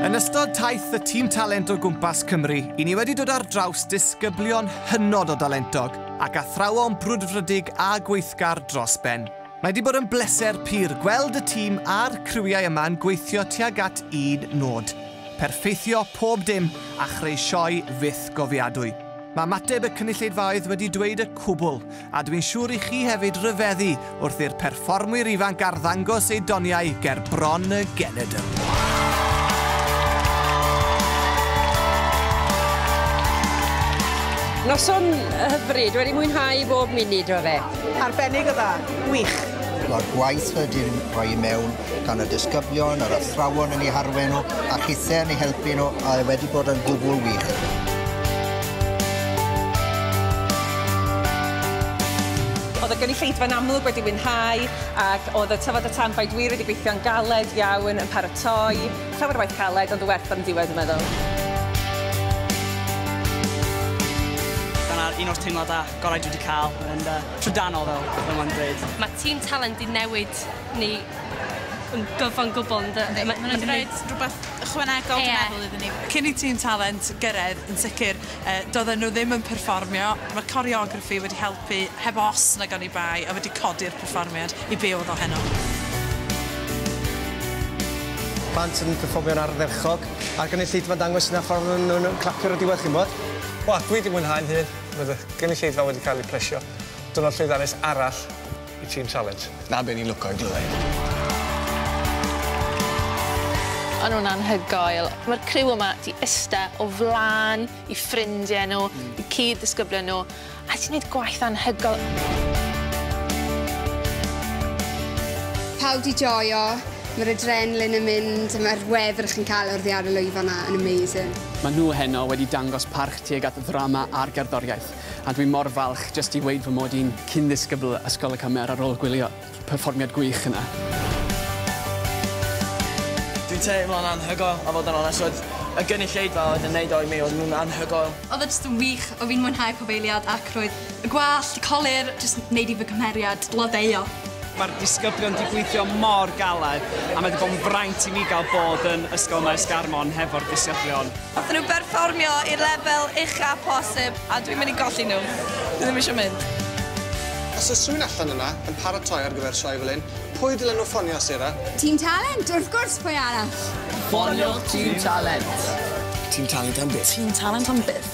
Yn ystod taith y Tîm Talent o gwmpas Cymru, i ni wedi dod ar draws disgyblion hynod o dalentog ac athrawon brwdfrydig a gweithgar dros ben. Mae wedi bod yn bleser pur gweld y tîm a'r criwiau yma yn gweithio tuag at un nod, perffeithio pob dim a chreu sioe fyth gofiadwy. Mae ymateb y cynulleidfaoedd wedi dweud y cwbl, a dw i'n siŵr i chi hefyd ryfeddu wrth i'r perfformwyr ifanc arddangos eu doniau ger bron y genedl. Noson hyfryd, wedi mwynhau bob munud o fe. Arbennig o dda. Gwych. Mae'r gwaith wedi'n rhoi i mewn gan y disgyblion, yr athrawon yn eu harwain nhw, a chithe yn eu helpu nhw, a e wedi bod yn gwbl wych. Oedd y gynulleidfa yn amlwg wedi mwynhau ac oedd y tyfod y tanfaid wir wedi gweithio'n galed iawn yn paratoi. Llawer o waith caled ond y werth ar yn diwedd dwi'n meddwl. Dyna'r un o'r teimladau gorau dwi wedi cael yn uh, trydanol fel fel mae'n dweud. Mae tîm Talent 'di newid Ni yn gyfan gwbl yn dy- ma' ma' raid rwbath ychwanegol dwi'n meddwl iddyn ni. Cyn i Tîm Talent gyrredd yn sicr yy doedden nhw ddim yn perfformio, ma' coreograffi wedi helpu heb os nag oni bai a wedi codi'r perfformiad i be oedd o heno. Plant yn perfformio'n ardderchog a'r gynulleidfa'n dangos hynna pan o'n nhw'n yym clapio ar y diwedd chi'mod. Wel dwi 'di mwynhau'n hun, roedd y gynulleidfa wedi cael ei plesio. Diwrnod llwyddiannus arall. Y tîm talent. 'Na be ni'n lwco i glywed. O'n nhw'n anhygoel. Mae'r criw yma 'di ista o flaen i ffrindiau nhw, i cyd-ddisgyblion nhw, a 'di wneud gwaith anhygoel. Pawb 'di joio, mae'r adrenaline yn mynd, mae'r wefr chi'n cael oddi ar y lwyfan 'na yn amazing. Maen nhw heno wedi dangos parch tuag at ddrama a'r gerddoriaeth. a dwi mor falch jyst i weud fy mod i'n cyn-ddisgybl Ysgol y Cymer ar ôl gwylio perfformiad gwych yna. Dwi'n teimlo'n anhygoel a fod yn onest oedd y gynulleidfa oedd yn neud o i mi, oedden nhw'n anhygoel. Oedd e jyst yn wych, oedd fi'n mwynhau pob eiliad ac roedd y gwallt, y colur, jyst yn neud i fy nghymeriad blodeuo. Mae'r disgyblion 'di gweithio mor galed a mae 'di bod yn fraint i mi gael bod yn Ysgol Maes Garmon hefo'r disgyblion. Wnaethon nhw berfformio i'r lefel ucha posib. A dwi'n mynd i golli nhw. Dwi ddim eisiau mynd. Os oes rhywun allan yna yn paratoi ar gyfer sioe fel hyn, pwy dylen nhw ffonio, Sarah? Tîm Talent, wrth gwrs, pwy arall? Ffoniwch Tîm Talent! Tîm Talent am byth. Tîm Talent am byth.